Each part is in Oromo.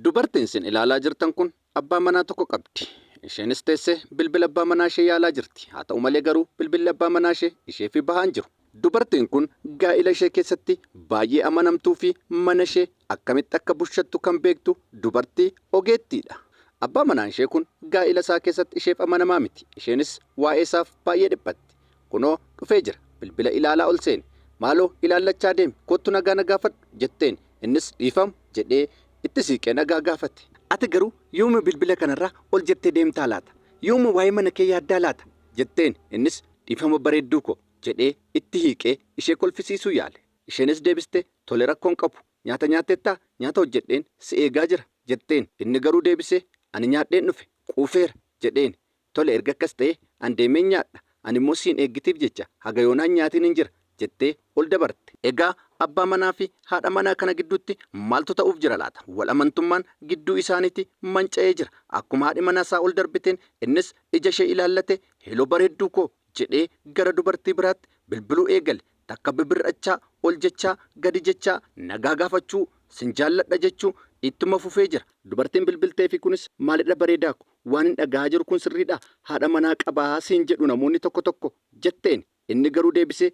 Dubartiin isin ilaalaa jirtan kun abbaa manaa tokko qabdi. Isheenis teessee bilbila abbaa manaa ishee yaalaa jirti. Haa ta'u malee garuu bilbilli abbaa manaa ishee ishee fi bahaa hin jiru. Dubartiin kun gaa'ila ishee keessatti baay'ee amanamtuu fi mana ishee akkamitti akka bushattu kan beektu dubartii ogeettii dha. Abbaa manaan ishee kun gaa'ila isaa keessatti isheef amanamaa miti. Isheenis waa'ee isaaf baay'ee dhiphatti. Kunoo dhufee jira, bilbila ilaalaa ol seene. Maaloo ilaallachaa deemi, koottu nagaa na gaafadhu! jetteen. Innis dhiifam! jedhee itti siiqee nagaa gaafate. Ati garuu yooma bilbila kanarraa ol jettee deemtaa laata? Yooma waa'ee mana kee yaaddaa laata? jetteen. Innis dhiifama bareedduu koo! jedhee itti hiiqee ishee kolfisiisuu yaale. Isheenis deebistee tole rakkoo hin qabu. Nyaata nyaatteettaa? Nyaata hojjedheen si eegaa jira! jetteen. Inni garuu deebisee ani nyaadheen dhufe, quufeera! jedheen. Tole erga akkas ta'ee an deemeen nyaadha, ani immoo siin eeggitiif jecha haga yoonaa hin nyaatiinin jira jettee ol dabarte. Egaa abbaa manaa fi haadha manaa kana gidduutti maaltu ta'uuf jira laata? Wal amantummaan gidduu isaaniitii manca'ee jira. Akkuma haadhi manaa isaa ol darbiteen innis ija ishee ilaallatee Heloo bareedduu koo jedhee gara dubartii biraatti bilbiluu eegale. Takka bibir'achaa, ol jechaa, gadi jechaa, nagaa gaafachuu, sin jaalladha jechuu ittuma fufee jira. Dubartiin bilbilteefii kunis maalidha bareedaa ko, Waanin dhaga'aa jiru kun sirriidhaa? Haadha manaa qabaa siin jedhu namoonni tokko tokko? jetteen. Inni garuu deebisee,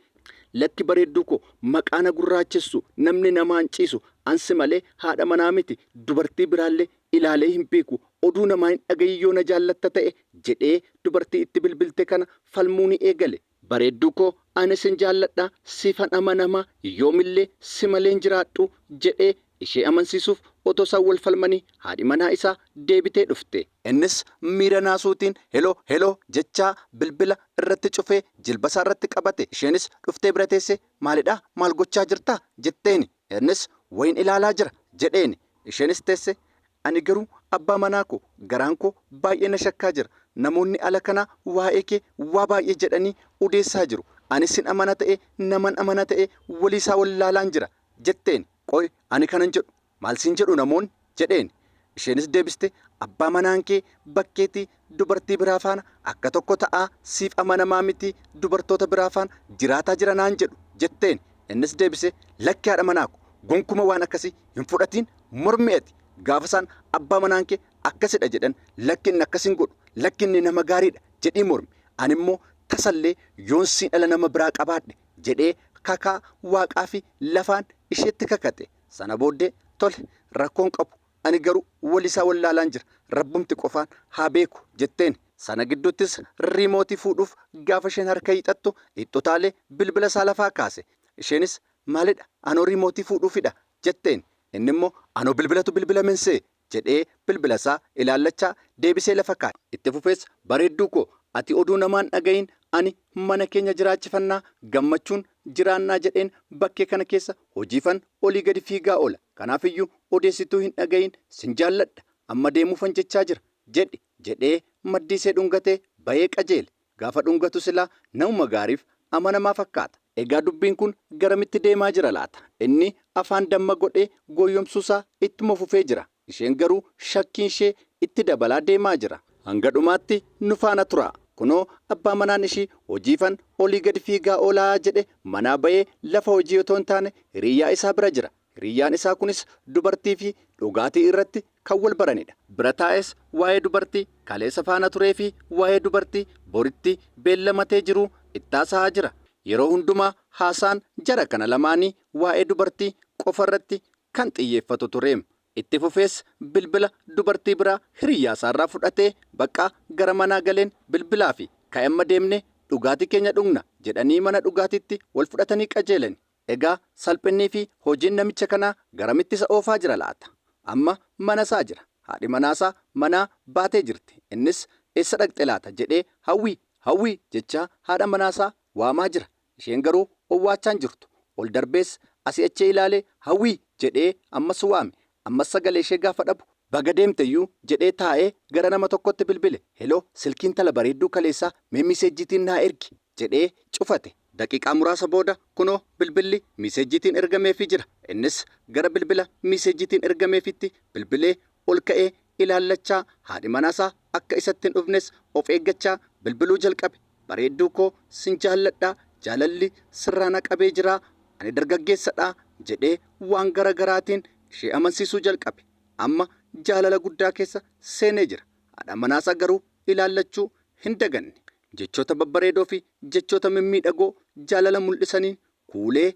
Lakki bareedduu koo, maqaa na gurraachessu namni namaan ciisu an si malee haadha manaa miti, dubartii biraallee ilaalee hin beeku, oduu namaa hin dhaga'iin yoo na jaallatta ta'e jedhee dubartii itti bilbilte kana falmuuni eegale. Bareedduu koo ani sin jaalladha siifan amanama yoomillee si malee hin jiraadhu jedhee ishee amansiisuuf otoo isaan wal falmanii haadhi manaa isaa deebitee dhufte. Innis miira naasuutiin Helo helo jechaa bilbila irratti cufee jilbasaarratti qabate. Isheenis dhuftee bira teessee maalidhaa maal gochaa jirtaa? jetteeni. Innis wayiin ilaalaa jira jedheeni. Isheenis teesse, Ani garuu abbaa manaa koo garaan koo baay'ee na shakkaa jira. Namoonni ala kanaa waa'ee kee waa baay'ee jedhanii odeessaa jiru. Ani sin amana ta'ee naman amana ta'ee waliisaa wallaalaan jira jetteeni. Qoy ani kanan jedhu maal siin jedhu namoonni? jedheen. Isheenis deebiste, Abbaa manaan kee bakkeetii dubartii biraa faana akka tokko ta'aa siif amanamaa miti, dubartoota biraa faana jiraataa jira naan jedhu jetteen. Innis deebisee, Lakki haadha manaa ko, gonkuma waan akkasii hin fudhatiin, mormi ati. Gaafa isaan abbaa manaan kee akkasidha jedhan, lakki inni akkas hin godhu, lakki inni nama gaariidha jedhii mormi. Animmoo tasallee yoon siidhala nama biraa qabaadhe jedhee kakaa waaqaafi lafaan isheetti kakate. Sana booddee tole rakkoo hin qabu ani garuu walisaa wallaalaan jira rabbumti qofaan haa beeku jetteeni. Sana gidduttis riimootii fuudhuuf gaafa isheen harka hiixattu itti utaalee bilbila isaa lafaa kaase. Isheenis maalidha anoo riimootii fuudhuufidha jetteeni. Innimmoo anoo bilbilatu bilbilame insee jedhee bilbilasaa ilaallachaa deebisee lafa kaa'e. Itti fufees Bareedduu koo ati oduu namaa hin dhaga'iin ani mana keenya jiraachifannaa gammachuun jiraannaa jedheen bakkee kana keessa hojiifan olii gadi fiigaa oola kanaafiyyuu odeessituu hin dhaga'iin sin jaalladha amma deemuufan jechaa jira jedhi jedhee maddiisee dhungatee ba'ee qajeele. Gaafa dhungatu silaa namuma gaariif amanamaa fakkaata. Egaa dubbiin kun garamitti deemaa jira laata? Inni afaan damma godhee gooyyomsuusaa ittuma fufee jira. Isheen garuu shakkiinshee itti dabalaa deemaa jira. Hanga dhumaatti nu faana turaa. Kunoo abbaa manaan ishii hojiifan olii gadi fiigaa oolaa jedhe manaa bahee lafa hojii otoo hin taane hiriiyaa isaa bira jira. Hiriyyaan isaa kunis dubartii fi dhugaatii irratti kan wal baranidha. Bira taa'ees waa'ee dubartii kaleessa faana turee fi waa'ee dubartii boritti beellamatee jiruu itti haasa'aa jira. Yeroo hundumaa haasaan jara kana lamaanii waa'ee dubartii qofa irratti kan xiyyeeffatu ture. Itti fufees bilbila dubartii biraa hiriyyaa isaarraa fudhatee bakka gara manaa galeen bilbilaafi ka'i amma deemnee dhugaatii keenya dhugna jedhanii mana dhugaatiitti wal fudhatanii qajeelani. Egaa salphinnii fi hojiin namicha kanaa garamitti isa oofaa jira laata? Amma mana isaa jira. Haadhi manaa isaa manaa baatee jirti. Innis eessa dhaqxe laata jedhee Hawwii! Hawwii! jechaa haadha manaa isaa waamaa jira. Isheen garuu owwaachaa hin jirtu. Ol darbees asii achii ilaalee Hawwii! jedhee ammas waame. Ammas sagalee ishee gaafa dhabu baga deemte iyyuu jedhee taa'ee gara nama tokkotti bilbile. Heloo! Silkii intala bareedduu kaleessaa mee miseejjiitiin naa ergi! jedhee cufate. Daqiiqaa muraasa booda kunoo bilbilli miiseejjiitiin ergameefii jira. Innis gara bilbila miiseejjiitiin ergameefiitti bilbilee ol ka'ee ilaallachaa haadhi manaasaa akka isatti hin dhufnes of eeggachaa bilbiluu jalqabe. Bareedduu koo sin jaalladha, jaalalli sirraa na qabee jira, ani dargaggeessadha jedhee waan gara garaatiin ishee amansiisuu jalqabe. Amma jaalala guddaa keessa seenee jira. Haadha manaasaa garuu ilaallachuu hin daganne. Jechoota babbareedoofi jechoota mimmiidhagoo jaalala mul'isaniin kuulee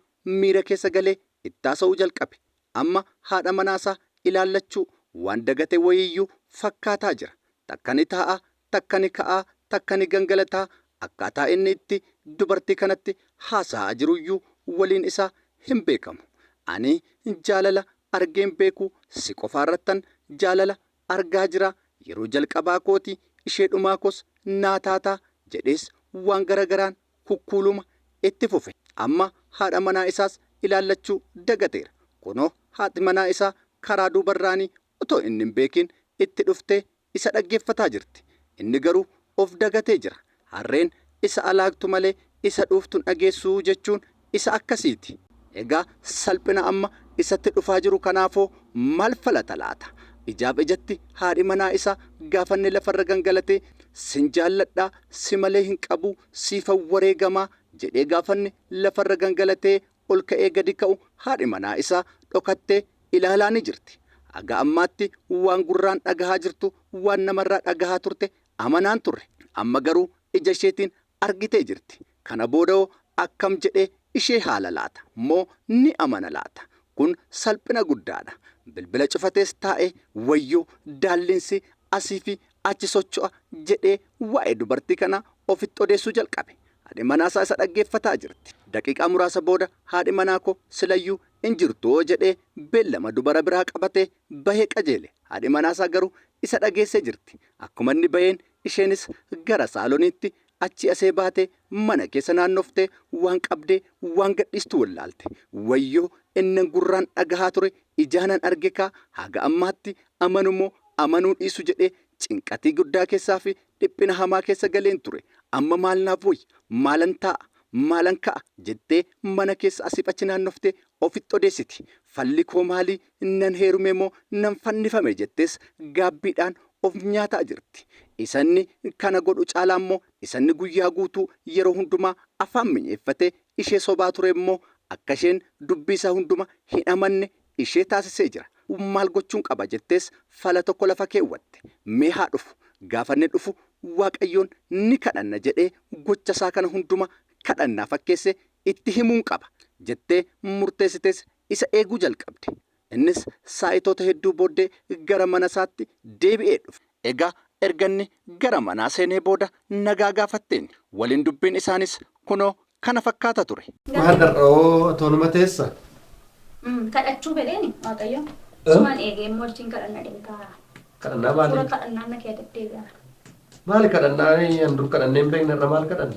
miira keessa galee ittaasa'uu jalqabe. Amma haadha manaasaa ilaallachuu waan dagate wayiiyyuu fakkaataa jira. Takka ni taa'a, takka ni ka'a, takka ni gangalataa, akkaataa inni itti dubartii kanatti haasa'aa jiruyyuu waliin isaa hinbeekamu. Ani jaalala argeen beeku si qofaarrattan jaalala argaa jira yeroo jalqabaa kooti ishee dhumaa koos naa taata jedhees waan gara garaan kukkuuluma itti fufe amma haadha manaa isaas ilaallachuu dagateera kunoo haati manaa isaa karaa duubarraanii otoo inni hin beekiin itti dhuftee isa dhaggeeffataa jirti inni garuu of dagatee jira Harreen isa alaagtu malee isa dhuuftu hin dhageessu jechuun isa akkasiiti. Egaa salphina amma isatti dhufaa jiru kanaafoo maal falata laata? Ijaaf ijatti haadhi manaa isaa gaafanni lafarra gangalatee sin jaalladhaa si malee hin qabuu siifan wareegamaa jedhee gaafanni lafarra gangalatee ol ka'ee gadi ka'u haadhi manaa isaa dhokattee ilaalaani jirti. Haga ammaatti waan gurraan dhagahaa jirtu waan namarraa dhagahaa turte Amanaan turre. Amma garuu ija isheetiin argitee jirti. Kana boodahoo akkam jedhee ishee haala laata? Moo ni amana laata? Kun salphina guddaadha. Bilbila cufatees taa'ee wayyoo daallinsii asiifi achi socho'a jedhee waa'ee dubartii kanaa ofitti odeessuu jalqabe. Haadhi manaasaa isa dhaggeeffataa jirti. Daqiiqaa muraasa booda haadhi manaa koo silayyuu hin jirtuwoo jedhee beellama dubara biraa qabatee bahe qajeele. Haadhi manaasaa garuu isa dhageessee jirti. Akkuma inni baheen isheenis gara saaloniitti achii asee baatee mana keessa naannoftee waan qabdee waan gadhiistu wallaalte. Wayyoo innan gurraan dhagahaa ture ijaanan argekaa haga ammaatti amanumoo amanuu dhiisu jedhee cinqatii guddaa keessaafi dhiphina hamaa keessa galeen ture. Amma maal naaf wayya? Maalan taa'a? Maalan ka'a? jettee mana keessa asiif achi naannoftee ofitti odeessiti. Falli koo maalii? Nan heerume moo nan fannifame jettees gaabbiidhaan of nyaataa jirti. Isa inni kana godhu caalaa immoo isa inni guyyaa guutuu yeroo hundumaa afaan minyeeffatee ishee sobaa ture immoo akka isheen dubbii isaa hunduma hin amanne ishee taasisee jira. Maal gochuun qaba jettees fala tokko lafa keewwatte. Mee haa dhufu. Gaafa inni dhufu Waaqayyoon ni kadhanna jedhee gocha isaa kana hunduma kadhannaa fakkeessee itti himuun qaba jettee murteessitees isa eeguu jalqabde. Innis saa'itoota hedduu booddee gara mana isaatti deebi'ee dhufe. Egaa erga inni gara manaa seenee booda nagaa gaafatteen. Waliin dubbiin isaaniis kunoo kana fakkaata ture. Maal har'a hoo atoonuma teessa? Kadhachuu fedheeni Waaqayyo. Suman eegee immoo achiin kadhanna deemtaa. Kadhannaa maali? Hafuura kadhannaa na keessa deddeebi'aa. Maali kadhannaa an dur kadhannee hin beekne irra maal kadhanna?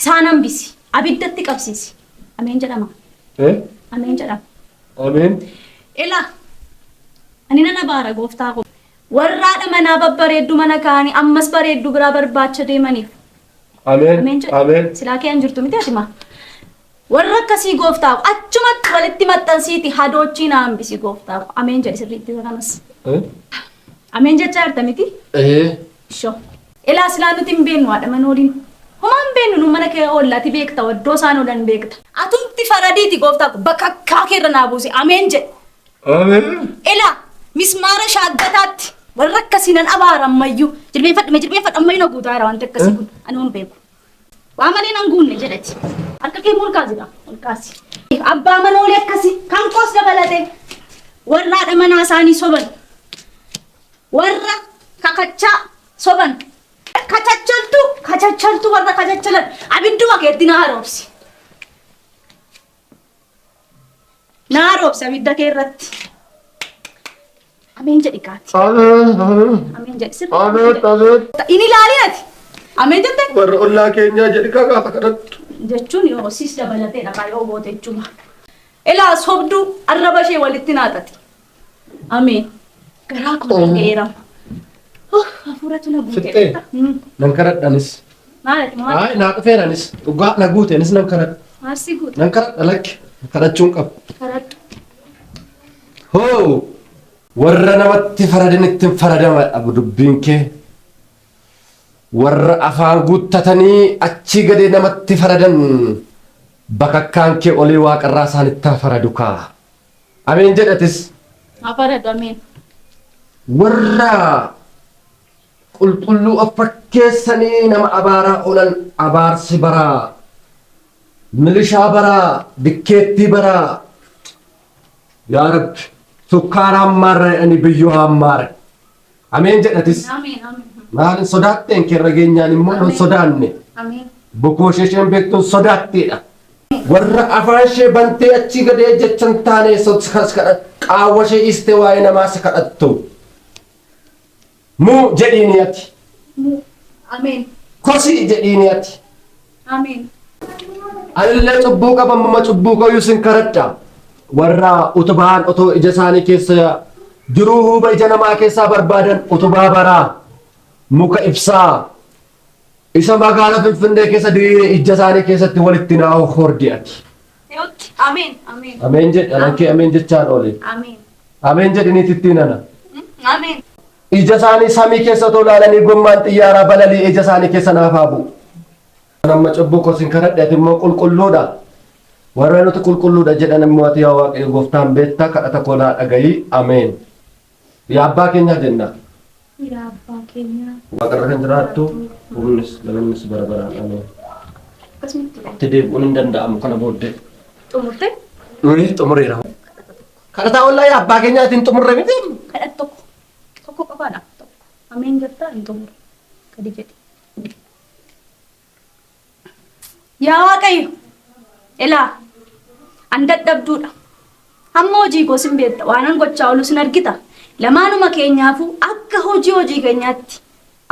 Isaan hambisi. Abiddatti qabsiisi. Ameen jedhama. Eh? Ameen jedhama. Ameen. Ila ani nan abaara gooftaa koo. Warraadha manaa babbareeddu mana kaanii ammas bareeddu biraa barbaacha deemaniif. Ameen Ameen. jedha. Ameen. Silaa kee hin jirtu miti ati maa. Warra akkasii gooftaa koo achumatti walitti maxxansiiti hadoochii na hambisi gooftaa koo. Ameen jedhi sirriitti isa kanas. Eh? Ameen jechaa jirta miti? Eh. Ishoo. Elaa silaa nuti hin beennu haadha mana waliin homaa hin beennu nu mana kee oolla ati beekta waddoo isaan oolan beekta. Atumti faradiiti gooftaa ko bakakkaa kee irra naa buusi ameen jedhi. Ameen. Elaa mismaara shaaggataatti warra akkasii nan abaara ammayyuu jilbeenfadhu mee jilbeenfadhu ammayyuu na guutaa jira wanti akkasii kun ani hin beeku. Abbaa malee nan guunne jedhati. Harka kee ol kaasi dha. Ol kaasi. Abbaa manoolee akkasi kan koos dabalate warra haadha manaa isaanii soban warra kakachaa soban kachachaltuu kachachaltuu warra kachachalan abidduma keetti na haroomsi. Naa roobsi abidda kee irratti. Ameen jedhi kaati. Abeet, abeet, Ameen jedhi sirrii abeet, abeet. Hin ilaalin ati. Ameen jette Warra ollaa keenyaa jedhi kaa gaafa kadhattu. jechuun yoo siis dabalatee dhaqaa yoo goote jechuudha. Ilaa sobduu arraba ishee walitti naaxaxi. Ameen. Garaa koo na ga'eera. Oh, hafuuratu na guute. Fixxee? Mm. Nan karadha anis. Maal ati maal? Ayi naa dhufeera anis. Dhugaa na guute anis nan karadha. Maal si guute? Nan karadha lakki. Kadhachuun qaba. Karadhu. Hoo! Warra namatti faradin ittiin faradama dhabu dubbiin kee. Warra afaan guuttatanii achii gadee namatti faradan bakakkaan kee olii waaqarraa isaanitti haa faradu kaa. Ameen jedhi atis. Haa faradu ameen. Warra qulqulluu of fakkeessanii nama abaaraa oolan abaarsi baraa, milishaa baraa, dikkeettii baraa. Yaa Rabbi, sukkaara hammaarra jedhanii biyyoo hammaare. Ameen jedha atis. Ameen. Ameen. Maalin sodaatteen kerra geenyaan immoo hin sodaanne. Ameen. Bukoo ishee isheen beektuun sodaatteedha. Warra afaan ishee bantee achii gadee jecha hin taane qaawwa ishee dhiistee waa'ee namaa isa kadhattu. Muu jedhiini ati. Muu. Ameen. Kosii jedhiini ati. Ameen. Anillee cubbuu qaba ammuma cubbuu kooyyuu sin karadha. Warra utubaan otoo ija isaanii keessa jiruu huuba ija namaa keessaa barbaadan utubaa baraa muka ibsaa isa magaalaa Finfinnee keessa diriire ija isaanii keessatti walitti naa hordi ati. Yootti. Ameen. Ameen. Ameen jedhi anan kee ameen jechaan oole. Ameen. Ameen jedhi niitittiin ana. Ameen. Ija isaanii samii keessa otoo ilaalanii gommaan xiyyaaraa balali'e ija isaanii keessa naaf haa bu'u. Kan amma cubbuu koo sin kadhadhe ati immoo qulqulluudha. Warra nuti qulqulluudha jedhan immoo ati yaa Waaqayyo gooftaan beektaa kadhata koo naa dhaga'i. Ameen. Yaa abbaa keenyaa jenna. Yaa abbaa keenyaa. Waaqarra kan jiraattu humnis galannis bara baraan ameen. Akkasumatti Itti deebi'uun hin danda'amu kana booddee. xumurte Nuyi xumureera. Kadhataa wallahi abbaa keenyaa itti hin xumurre miti. Kadhat tokko tokko qofaadha tokko ameen jettaa hin xumure gadi jedhi. Yaa Waaqayyo ilaa an dadhabduudha hamma hojii koo sin beekta waanan gochaa oolu sin argita lamaanuma keenyaafuu akka hojii hojii keenyaatti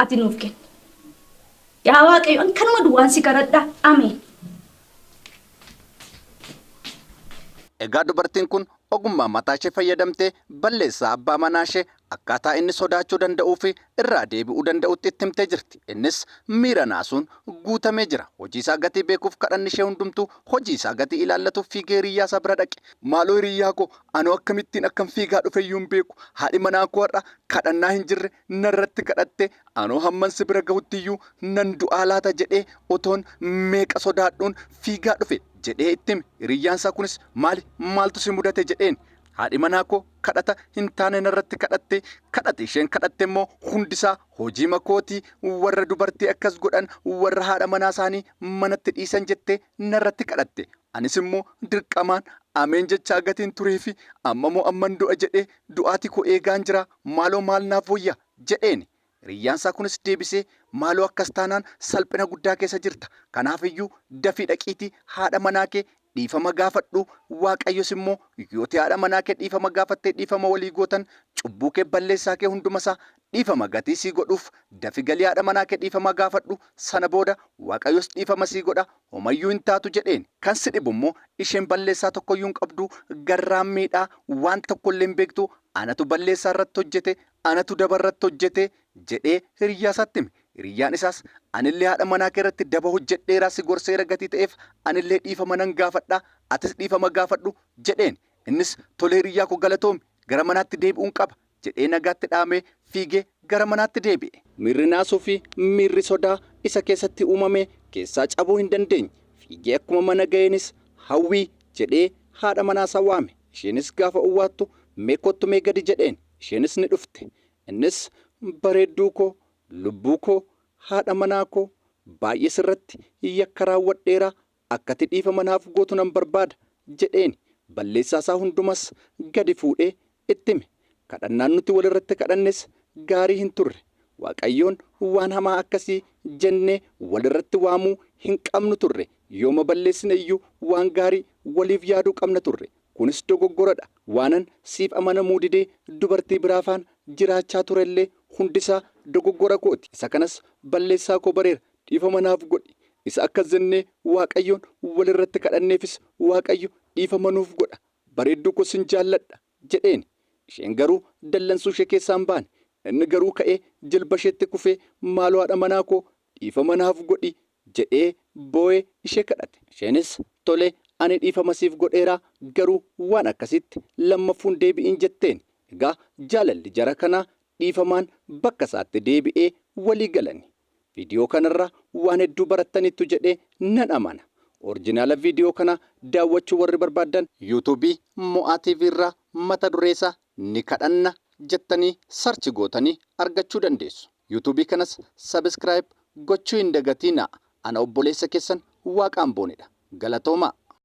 ati nuuf kenni. Yaa Waaqayyo an kanuma duwwaan si kadhadha ameen. Egaa dubartiin kun ogummaa mataashee fayyadamtee balleessaa abbaa manaashee akkaataa inni sodaachuu danda'uufi irraa deebi'uu danda'utti itti himtee jirti. Innis miira naasuun guutamee jira. Hojiisaa gatii beekuuf kadhannishee hundumtuu hojiisaa gatii ilaallatuuf fiigee hiriyyaasaa bira dhaqe. Maaloo hiriyyaakoo, anoo akkamittiin akkan fiigaa dhufeyyuu hin beeku. Haadhi manaakoo har'a kadhannaa hin jirre narratti kadhatte anoo hamman si bira gahutti iyyuu nan du'aa laata jedhee otoon meeqa sodaadhuun fiigaa dhufe jedhee itti hime. Hiriyyaan isaa kunis maali maaltu si mudate jedheen. Haadhi manaa koo kadhata hin taane narratti kadhatte, kadhati isheen kadhatte immoo hundi isaa hojiima kooti, warra dubartii akkas godhan warra haadha manaa isaanii manatti dhiisan jettee narratti kadhatte. Anis immoo dirqamaan ameen jechaa gatiin tureefi amma moo amman du'a jedhee du'aati koo eegaan jiraa. Maaloo maal naaf wayya? jedheeni. Hiriyyaansaa kunis deebisee, Maaloo akkas taanaan salphina guddaa keessa jirta. Kanaafiyyuu dafii dhaqiitii haadha manaa kee dhiifama gaafadhu, Waaqayyos immoo yooti haadha manaa kee dhiifama gaafattee dhiifama walii gootan cubbuu kee balleessaa kee hundumasaa dhiifama gatii sii godhuuf dafi galii haadha manaa kee dhiifama gaafadhu sana booda Waaqayyos dhiifama sii godha homayyuu hin taatu jedheeni. Kan si dhibu immoo isheen balleessaa tokkoyyuu hin qabdu, garraammiidha, waan tokkollee hin beektu, Anatu balleessaa irratti hojjete, anatu daba irratti hojjete jedhee hiriyyaa isaatti hime. Hiriyyaan isaas anillee haadha manaa kee irratti daba hojjedheera si gorseera gatii ta'eef anillee dhiifama nan gaafadha atis dhiifama gaafadhu jedheen. Innis tole hiriyyaa koo galatoomi gara manaatti deebi'uun qaba jedhee nagaatti dhaamee fiigee gara manaatti deebi'e. Miirri naasuu fi miirri sodaa isa keessatti uumame keessaa cabuu hin dandeenye. Fiigee akkuma mana ga'eenis Hawwii jedhee haadha manaa isaa waame. Isheenis gaafa owwaattu mee kottu mee gadi jedheen. Isheenis ni dhufte. Innis bareedduu koo, lubbuu koo, haadha manaa koo, baay'ee sirratti yakka raawwadheera, akkati dhiifama naaf gootu nan barbaada jedheeni. Balleessaa isaa hundumas gadi fuudhee itti hime. Kadhannaan nuti wal irratti kadhannes gaarii hin turre. Waaqayyoon waan hamaa akkasii jennee wal irratti waamuu hin qabnu turre. Yooma balleessine iyyuu waan gaarii waliif yaaduu qabna turre. Kunis dogoggora dha. Waanan siif amanamuu didee dubartii biraafaan jiraachaa ture illee hundi isaa dogoggora koo ti. Isa kanas balleessaa koo bareera. Dhiifama naaf godhi. Isa akkas jennee Waaqayyoon wal irratti kadhanneefis Waaqayyo dhiifama nuuf godha. Bareedduu koo sin jaalladha. jedheeni. Isheen garuu dallansuushee keessaa hin baane. Inni garuu ka'ee jilbasheetti kufee maaloo haadha manaa koo dhiifama naaf godhi jedhee boo'ee ishee kadhate. Isheenis tole ani dhiifama siif godheeraa garuu waan akkasiitti lammaffuu hin deebi'iin jetteeni. Egaa jaalalli jara kanaa dhiifamaan bakka isaatti deebi'ee walii galanii. Video kanarra waan hedduu barattaniittu jedhee nan amana. Orjinaala video kanaa daawwachuu warri barbaaddan YouTube Mo'aa TV irraa mata duree isaa Ni Kadhanna jettanii search gootanii argachuu dandeessu. YouTube kanas subscribe gochuu hin dagatiinaa. Ana obboleessa keessan Waaqaan Boonedha. Galatoomaa!